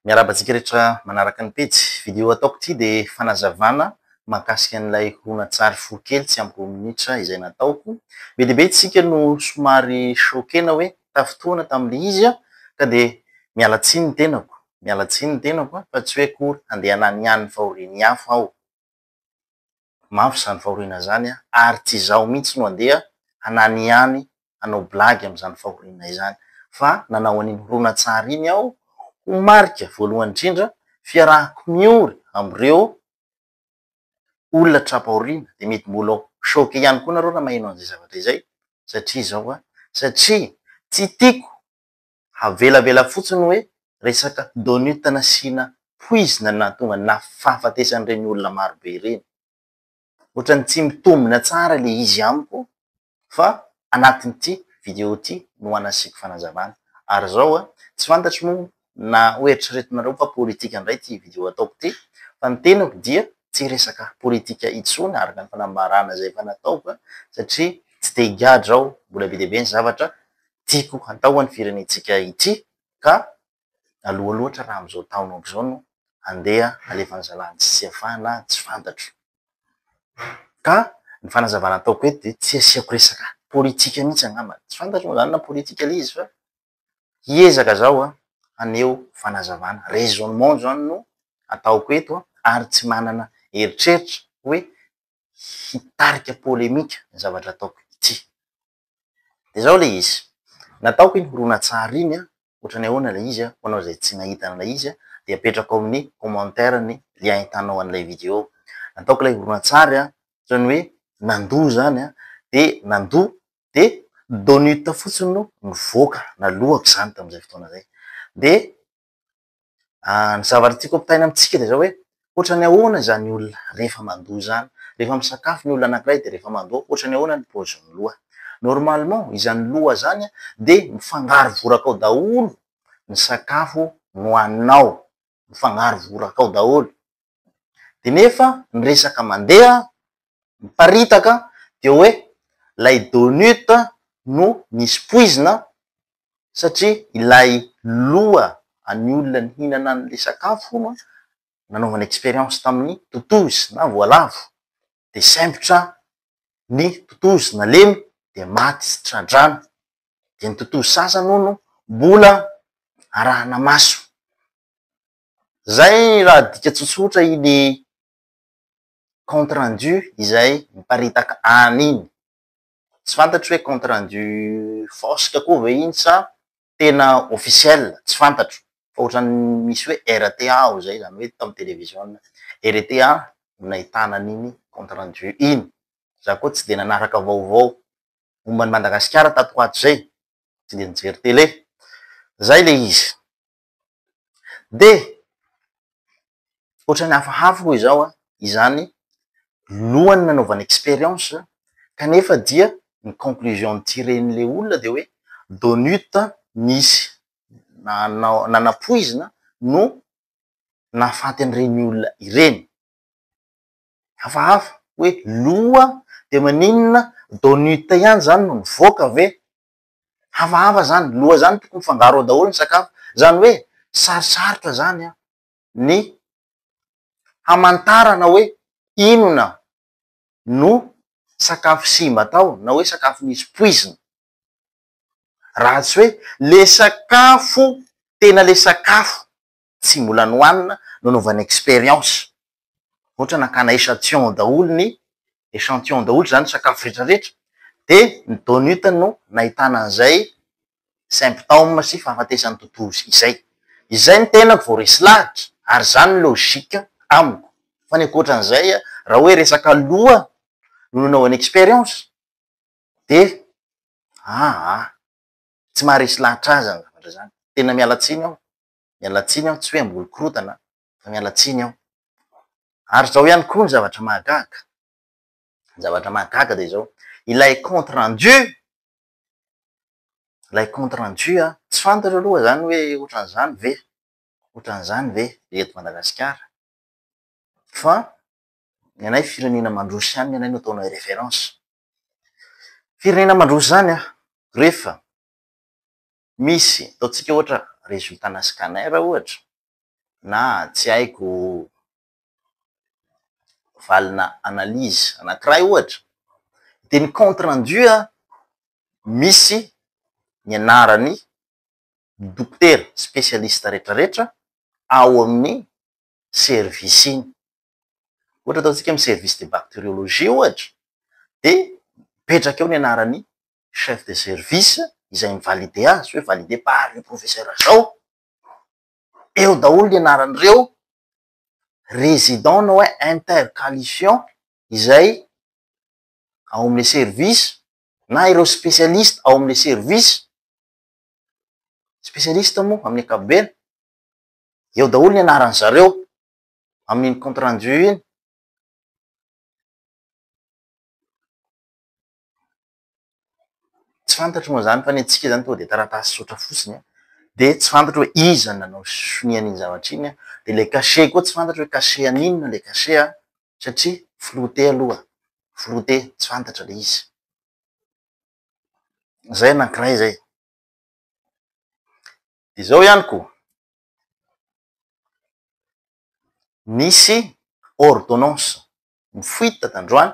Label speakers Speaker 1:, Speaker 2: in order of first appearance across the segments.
Speaker 1: Miarahaba antsika rehetra manaraka ny pejy. Video hataoko ity dia fanazavana mahakasika an'ilay horonantsary fohy kely tsy ampy roa minitra izay nataoko. Be dia be antsika no somary choquena hoe tafintohina tamin'ilay izy aho ka dia miala tsiny ny tenako, miala tsiny ny tenako fa tsy hoe akory handeha hananihany ny fahorian'ny hafa aho. Mafy izany fahoriana izany an! Ary tsy izaho mihitsy no handeha hananihany hanao blagy amin'izany fahoriana izany. Fa nanao an'iny horonantsary iny aho ho marika voalohany indrindra fiarahako miory amin'ireo olona tra-pahoriana. Dia mety mbola ho choque ihany koa nareo raha maheno an'izay zavatra izay satria izao an! Satria tsy tiako havelavela fotsiny hoe resaka donut nasiana poizina no nahatonga ny nafahafatesan'ireny olona marobe ireny. Ohatran'ny tsy mitombina tsara ilay izy amiko fa anatin'ity video ity no hanasiako fanazavana. Ary izao a, tsy fantatro moa na hoeritreretinareo fa politika indray ity video ataoko ity fa ny tenako dia tsy hiresaka politika intsony araka ny fanambarana izay efa nataoko satria tsy te-higadra aho, mbola be dia be ny zavatra tiako hatao an'ny firenentsika ity ka aloha loatra raha amin'izao taona aoka izao no handeha halefa ny zalahy tsy tia fahana tsy fantatro. Ka ny fanazavana ataoko eto dia tsy asiako resaka politika mihitsy angamba, tsy fantatro moa izany na politika ilay izy fa hiezaka zaho haneho fanazavana, raisonnement izany no ataoko eto ary tsy manana eritreritra hoe hitarika polemika ny zavatra ataoko ity. De zao le izy, nataoko iny horonantsary iny an, otrany ahoana le izy an, ho anao zay tsy nahita an'ilay izy an, de apetrako ao amin'ny commentaire ny lien ahitanao an'ilay video. Nataoko ilay horonantsary an, otrany hoe nandoa zany an, de nandoa de Donut fotsiny no nivoaka, naloako zany tam'zay fotoana zay. De Ah, ny zavatra tiako ampitaina amintsika dia izao hoe, ohatran'ny ahoana izany olona rehefa mandoa izany? Rehefa misakafo ny olona anankiray dia rehefa mandoa, ohatran'ny ahoana ny paozin'ny loha? Normalement, izany loha izany an, dia mifangaro voraka ao daholo ny sakafo nohaninao, mifangaro voraka ao daholo. de nefa ny resaka mandeha miparitaka dia hoe ilay donut no nisy poizina satria ilay loha an'ny olona nihinana an'ilay sakafo hono an, nanaovana expérience tamin'ny totozy na voalavo de sempotra ny totozy nalemy de maty tsy tra-drano, de ny totozy sasany hono mbola arahana maso. Izay raha dika tsotsotra iny compte rendu izay miparitaka any iny. Tsy fantatro hoe compte rendu fosque koa ve iny sa tena officiel, tsy fantatro fa ohatran'ny misy hoe RTA ao izay, izany hoe tao amin'ny television RTA no nahitana an'iny compte rendu iny. Izaho koa tsy dia nanaraka vaovao momba an'i Madagasikara tato ho ato izay, tsy dia nijery tele. Izay ilay izy. Dia, ohatran'ny hafahafa hoy izao an, izany lohany nanaovana expérience kanefa dia ny conclusion nitiren'ilay olona dia hoe donut nisy nanao nanapoizina no nahafaty an'ireny olona ireny. Hafahafa hoe loha dia maninona donut ihany izany no nivoaka ve? Hafahafa zany, loha zany tokony mifangaro ao daholo ny sakafo. Zany hoe sarosarotra zany an ny hamantarana hoe inona no sakafo simba tao na hoe sakafo nisy poizina. Raha tsy hoe le sakafo tena le sakafo tsy mbola nohanina no anaovana expérience. Ohatra hoe nakana echantillon daholo ny, echantillon daholo izany ny sakafo rehetra rehetra, dia ny DONUT no nahitana an'izay symptômes sy fahafatesan'ny totozy izay. Izay ny tenako vao resy lahatra ary izany ny logique amiko. Fa ny ankoatran'izay, raha hoe resaka loha no nanaovana expérience dia aa, tsy maharesy lahatra ahy izany zavatra izany. Tena miala tsiny aho. miala tsiny aho, tsy hoe hamboly korontana fa miala tsiny aho. Ary izao ihany koa ny zavatra mahagaga, ny zavatra mahagaga dia izao, ilay compte rendu, ilay compte rendu an, tsy fantatro aloha izany hoe ohatran'izany ve, ohatran'izany ve ny eto Madagasikara? fa ny anay firenena mandroso ihany ny anay no ataonay référence. Firenena mandroso izany an, rehefa misy ataontsika ohatra résultat ana scanner ohatra na tsy haiko valina analyse anakiray ohatra de ny compte rendu misy ny anarany dokotera spécialiste retraretra ao amin'ny service iny ohatra ataontsika hoe service de bacteriologie ohatra de mipetraka eo ny anarany chef de service izay mi-valider azy hoe valider par le professeur zao, eo daholo ny anaran'ireo resident na hoe intercalifiant izay ao amin'ny le service na ireo specialiste ao amin'ny le service, specialiste moa amin'ny ankapobeny, eo daholo ny anaran'ny zareo amin'iny compte rendu iny. Tsy fantatro moa izany fa ny antsika izany tonga dia taratasy tsotra fotsiny dia tsy fantatro hoe iza no nanao sonia an'iny zavatra iny dia ilay cachet koa tsy fantatro hoe cachet an'inona ilay cachet an! satria flouté aloha, flouté, tsy fantatra ilay izy. Izay ny anankiray izay. Dia izao ihany koa, nisy ordonnance nifoita tandroany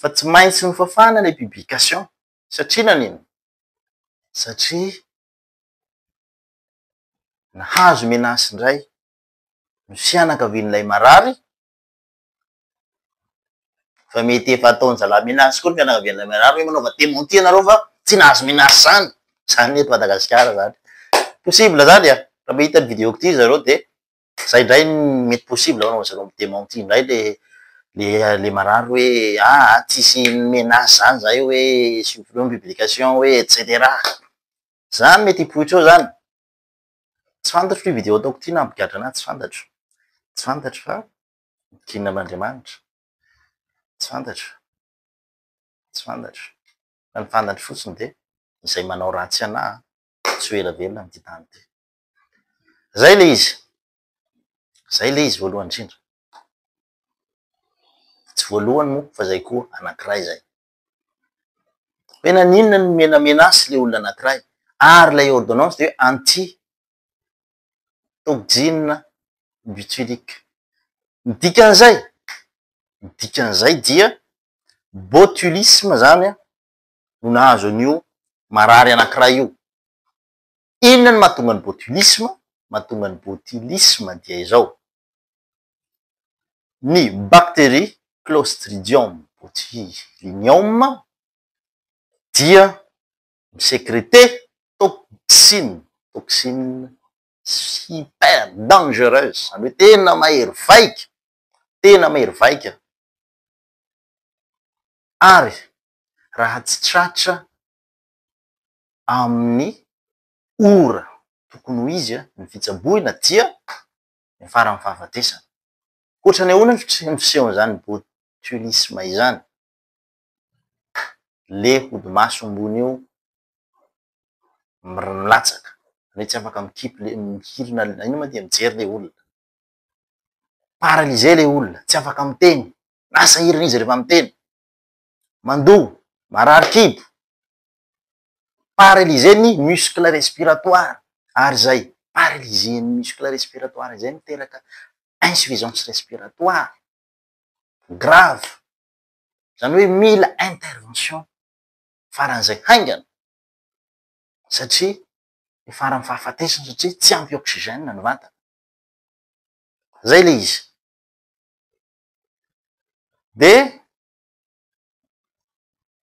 Speaker 1: fa tsy maintsy nofafana ilay publication satria nanino? satria nahazo menace indray ny fianakavian'ilay marary fa mety efa ataon-jalahy menace koa ny fianakavian'ilay marary hoe manaova dementie ianareo fa tsy nahazo menace izany, izany ny eto Madagasikara izany, possible izany an, raha mahita ny video-ko ity zareo dia. Zay ndray mety possible hono zareo mi dementit ndray le le le marary hoe aa tsisy menace zany zay hoe supprimer ny publication hoe etc zany mety hipoitra eo zany tsy fantatro ty video ataoko ty nampigadra anahy tsy fantatro tsy fantatro fa gina am'Andriamanitra tsy fantatro tsy fantatro fa ny fantatro fotsiny de izay manao ratsy anahy tsy ho ela velona am'ty tany ty Zay le izy. Zay le izy voalohany indrindra. Tsy voalohany moa fa zay koa anankiray zay. Hoe naninona no nomena menace le olona anankiray ary ilay ordonnance dia hoe anti toxine botulique. Ny dikan'izay, ny dikan'izay dia botulisme zany no nahazo an'io marary anankiray io. Inona no mahatonga ny botulisme? Mahatonga ny botulisme dia izao, ny bacterie clostridium botulinum dia mi-secreter toxine, toxine super dangereuse, izany hoe tena mahery vaika, tena mahery vaika ary raha tsy tratra amin'ny ora tokony ho izy ny fitsaboina dia niafaran'ny fahafatesana. Hoatra ny ahoana ny fisehon'izany botulisme izany? Le hodimaso ambony io milatsaka, zany hoe tsy afaka mikipy le hirina le inona ma dia mijery le olona, paralysé le olona, tsy afaka miteny, na sahirana izy rehefa miteny, mandoa, marary kibo, Paralyser ny muscle respiratoire ary izay paralyser ny muscle respiratoire izay miteraka insuffisance respiratoire grave. Izany hoe mila intervention faran'izay haingana satria ny faran'ny fahafatesana satria tsy ampy oxygène ny vatana. Izay ilay izy. Dia.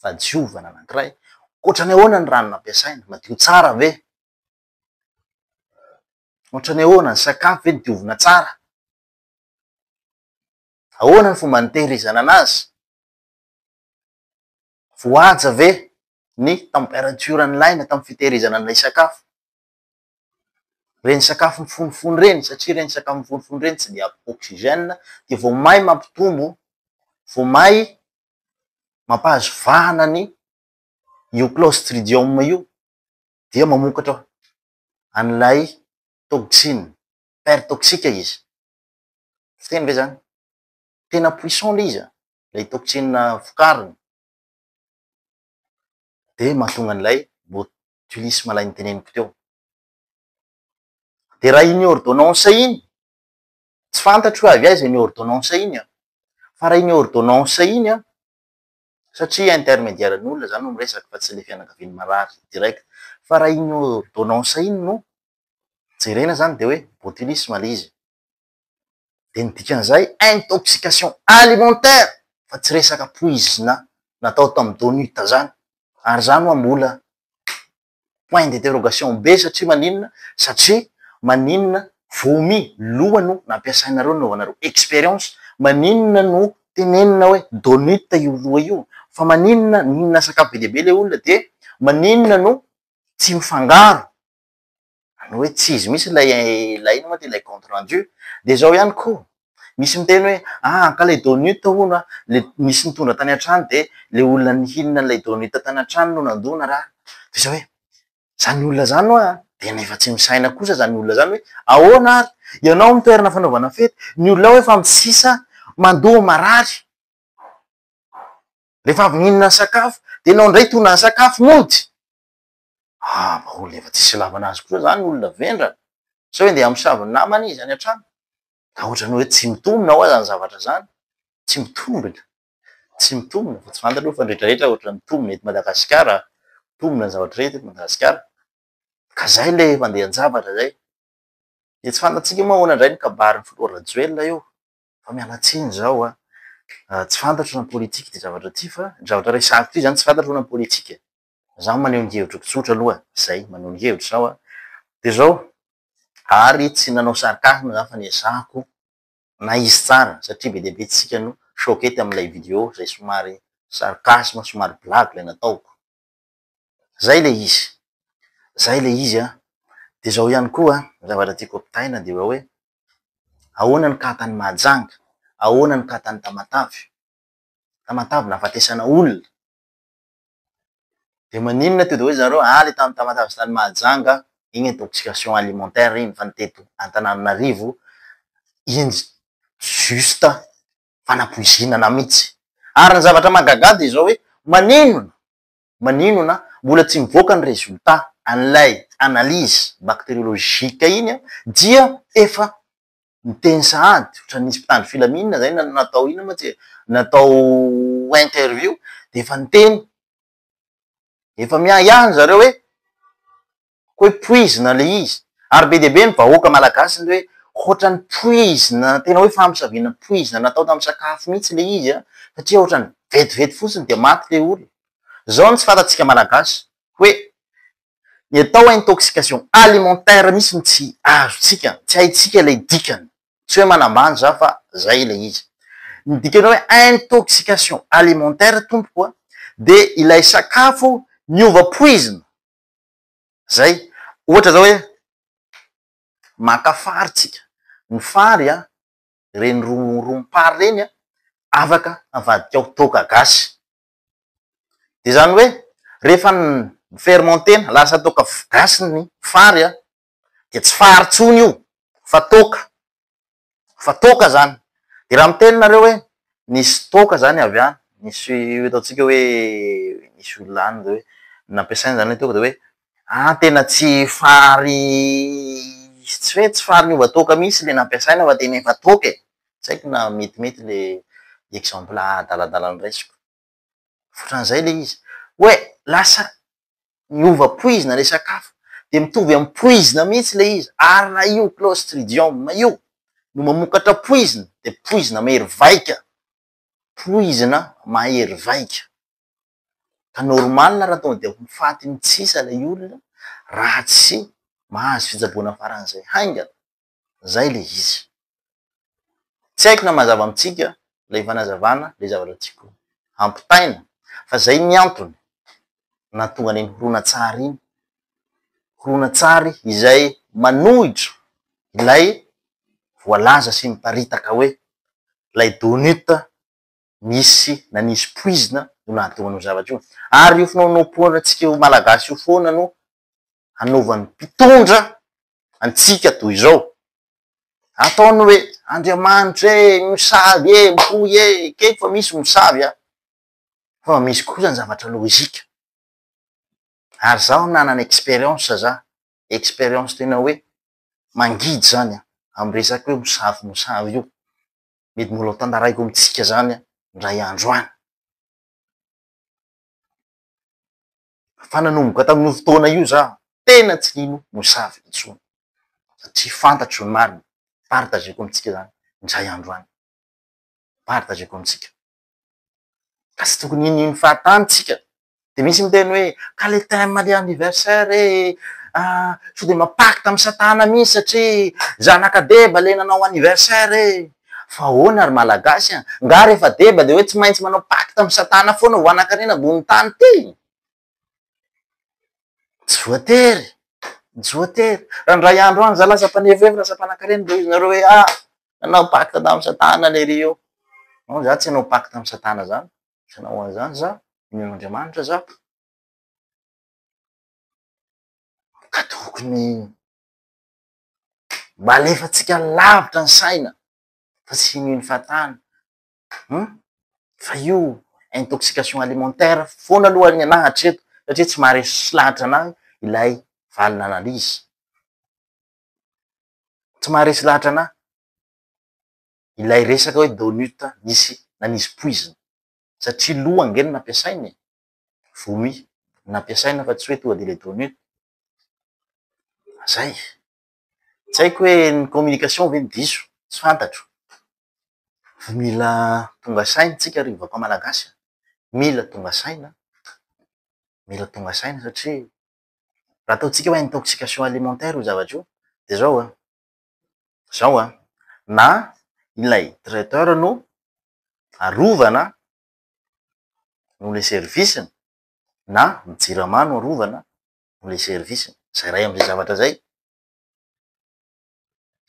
Speaker 1: fahadiovana anankiray, ohatran'ny ahoana ny rano nampiasaina? Madio tsara ve? Ohatran'ny ahoana ny sakafo ve diovina tsara? Ahoana ny fomba nitehirizana anazy? Voahaja ve ny temperature nilaina tamin'ny fitehirizana an'ilay sakafo? Ireny sakafo mifonofono ireny, satria ireny sakafo mifonofono ireny tsy dia ampy oxygène dia vao may mampitombo, vao may mampahazo vahana ny io clostridium io dia mamokatra an'ilay toxine, paire toxique izy. Fiteny ve zany? Tena puissant le izy an! ilay toxine vokariny dia mahatonga an'ilay botulisme ilay noteneniko teo. Dia raha iny ordonnance iny Tsy fantatro hoe avy aiza iny ordonnance iny an! Fa raha iny ordonnance iny an, satria intermediaire n'olona za no miresaka fa tsy le fianakavian'ny marary direct, fa raha iny ordonnance iny no jerena zany de hoe botulisme le izy, de ny dikan'izay intoxication alimentaire fa tsy resaka poizina natao tamin'ny DONUT zany, ary za moa mbola point d'interrogation be satria maninona satria maninona vomi loha no nampiasainareo nanaovanareo experience maninona no tenenina hoe donut io loha io fa maninona nihinana sakafo be dia be ilay olona dia maninona no tsy mifangaro Any hoe tsy izy mihitsy ilay ilay inona moa ty ilay compte rendu. Dia izao ihany koa, misy miteny hoe ah ankalay Donut hono an, le nisy nitondra tany an-trano dia ilay olona nihinana an'ilay Donut tany an-trano no nandona ra. Dia izao hoe, izany olona izany ho'a dia efa tsy misaina kosa izany olona izany hoe ahoana ary? Ianao amin'ny toerana fanaovana fety, ny olona ao efa misisa, mandoa, marary. Rehefa avy nihinana ny sakafo dia ianao indray tondra ny sakafo mody. Ah mba olona efa tsisy ilavana azy koa zany ny olona vendrana? Sao hoe ndeha hamosavy ny namany izy any an-trano? Ka ohatran'ny hoe tsy mitombina hoa zany zavatra zany? Tsy mitombina? Tsy mitombina fa tsy fantatra aloha fa ny rehetra rehetra ohatran'ny mitombina eto Madagasikara a! Mitombina ny zavatra rehetra eto Madagasikara. Ka zay ilay efa andehan-javatra zay. Dia tsy fantatsika moa ahoana indray ny kabarin'ny filoha Rajoelina io. Fa miala tsiny zao a! Tsy fantatro na politika ity zavatra ity fa ny zavatra resahiko ity zany tsy fantatro na politika e! Izaho maneho ny hevitro tsotra aloha izay, maneho ny hevitro izaho a. Dia izao, ary tsy nanao sarcasme izaho fa niezahako na izy tsara satria be dia be isika no choqué tamin'ilay vidéo izay somary sarcasme, somary blague ilay nataoko. Izay ilay izy. Izay ilay izy an! Dia izao ihany koa, ny zavatra tiako ampitaina dia hoe ahoana ny cas tany Mahajanga, ahoana ny cas tany Tamatave. Tamatave nahafatesana olona. De maninona to de hoe zareo any tany Tamatave sy tany Mahajanga iny intoxication alimentaire iny fa ny teto Antananarivo iny juste fanapoizinana mitsy. Ary ny zavatra mahagaga de zao hoe maninona maninona mbola tsy mivoaka ny résultat an'ilay analyse bacteriologique iny dia efa miteny sahady ohatran'ny nisy mpitandro filaminana izay na- natao inona moa tsy e, natao interview dia efa niteny, efa miahiahy ry zareo hoe koa hoe poizina ilay izy. Ary be dia be ny vahoaka malagasy ny hoe ohatran'ny poizina, tena hoe famosaviana poizina natao tamin'ny sakafo mihitsy ilay izy an, satria ohatran'ny vetivety fotsiny dia maty ilay olona. Izao no tsy fantatsika malagasy hoe Ny atao hoe intoxication alimentaire mihitsy no tsy azontsika, tsy haintsika ilay dikany. Tsy hoe manambany za fa zay ilay izy. Ny dikan'ny hoe intoxication alimentaire tompoko a, dia ilay sakafo niova poizina. Zay. Ohatra zao hoe maka fary tsika, ny fary a, ireny rom-rom-pary ireny a, afaka avadikao toaka gasy. Dia izany hoe rehefa mi-fermenter-na, lasa toaka gasy ny fary an, dia tsy fary intsony io fa toaka, fa toaka izany. Dia raha miteny nareo hoe nisy toaka izany avy any, nisy ataontsika hoe nisy olona any dia hoe nampiasaina izany ilay toaka dia hoe Ah tena tsy fary tsy hoe tsy fary niova toaka mihintsy le nampiasaina fa tena efa toaka e! Tsy haiko na metimety le exemple adaladala noraisiko. Otran'izay le izy. Hoe lasa niova poizina le sakafo. De mitovy amin'ny poizina mihintsy le izy. Ary raha io clostridium io no mamokatra poizina de poizina mahery vaika. poizina mahery vaika ka normal raha tonga dia ho faty mitsisa ilay olona raha tsy mahazo fitsaboana faran'izay haingana, izay ilay izy. Tsy haiko na mazava amintsika ilay fanazavana ilay zavatra tiako hampitaina fa izay ny antony. nahatonga an'iny horonantsary iny, horonantsary izay manohitra ilay voalaza sy miparitaka hoe ilay Donut nisy na nisy poizina no nahatonga an'io zavatra io. Ary io finoanoam-poanatsika io Malagasy io foana no hanaovan'ny mpitondra antsika toy izao. Ataony hoe Andriamanitra e, misavy e, mitohy e, ekeko fa misy misavy an! fa misy kosa ny zavatra lojika. Ary zaho nanana experience za, experience tena hoe mangidy zany an, amin'ny resaka hoe mosavy mosavy io. Mety mbola ho tantaraiko amintsika zany an, indray andro any. Fa nanomboka tamin'io fotoana io za, tena tsy nino mosavy intsony, satria fantatro ny marina, partageko amintsika zany indray andro any, partageko amintsika. ka tsy tokony hinihinin'ny fahatany tsika, dia misy miteny hoe ka le thème le anniversaire ee, ah sao dia manao pacte amin'i satana mihintsy satria zanak'adeba le nanao anniversaire ee, fa ahoana ry malagasy an, nga rehefa deba dia hoe tsy maintsy manao pacte amin'i satana foana ho anankarena ambony tany ty? Tsy voatery, tsy voatery. Raha indray andro any za lasa mpanefehev, lasa mpanankarena dia hoy zareo hoe a! nanao pacte tamin'i satana lery io. Non, za tsy hanao pacte amin'i satana zany, tsy hanao an'zany za, mino Andriamanitra za. Ka tokony mba alefantsika lavitra ny saina fa tsy hino hino fahatany. Humm fa io intoxication alimentaire foana aloha ny anah hatreto satria tsy maharesy lahatra anah ilay valin' analyse, tsy maharesy lahatra anah ilay resaka hoe donut nisy nanisy poizina satria loha ange no nampiasaina e, vomi no nampiasaina fa tsy hoe tonga de le donut, zay. Tsy haiko hoe ny communication ve no diso, tsy fantatro. Fa mila tonga saina isika ry vahoaka malagasy a! Mila tonga saina, mila tonga saina satria raha ataontsika hoe intoxication alimentaire io zavatra io dia izao an, izao an, na ilay traiteur no arovana noho ilay service-ny na ny jirama no arovana amin'ny service-ny. Zay iray amin'izay zavatra zay.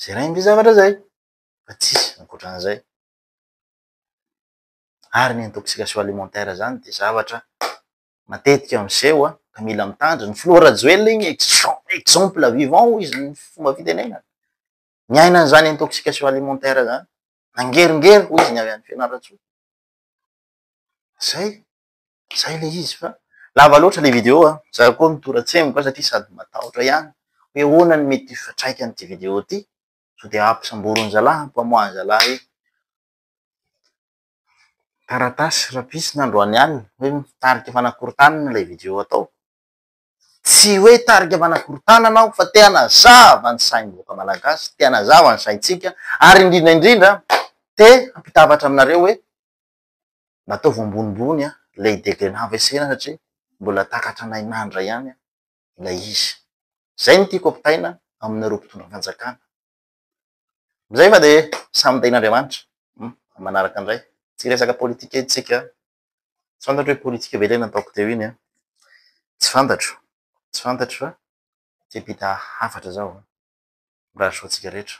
Speaker 1: Zay iray amin'izay zavatra zay. Fa tsisy ankoatran'izay. Ary ny intoxication alimentaire zany dia zavatra matetika miseho ka mila mitandrina. Ny filoha Rajoelina iny exemple vivant hoy izy ny fomba fitenenany. Niaina an'izany intoxication alimentaire zany. Nangeringery hoy izy ny avy any Fianarantsoa. Zay. Zay le izy fa lava loatra le video a! Za koa mitoratsemboka satria sady matahotra ihany hoe ahoana no mety ho fiatraikan'ity video ity sao dia hampisamboron'i zalahy hampamoahan'i zalahy hoe taratasy rapisina androany alina hoe tarika fanakorontanana ilay video atao. Tsy hoe tarika fanakorontanana aho fa te hanazava ny sain'ny vahoaka malagasy, te hanazava ny saintsika ary indrindra indrindra te hampitavatra aminareo hoe Nataovy ambonimbony an, ilay degré navesena satria mbola takatra anay mandra ihany ilay izy. Izay no tiako ampitaina aminareo mpitondra fanjakana. Amin'izay fa dia samy tahin'Andriamanitra. Amin'ny manaraka indray. Tsy hiresaka politika isika. Tsy fantatro hoe politika ve ilay nataoko teo iny an. Tsy fantatro. Tsy fantatro fa te-hampita hafatra zaho. Mirary soa antsika rehetra.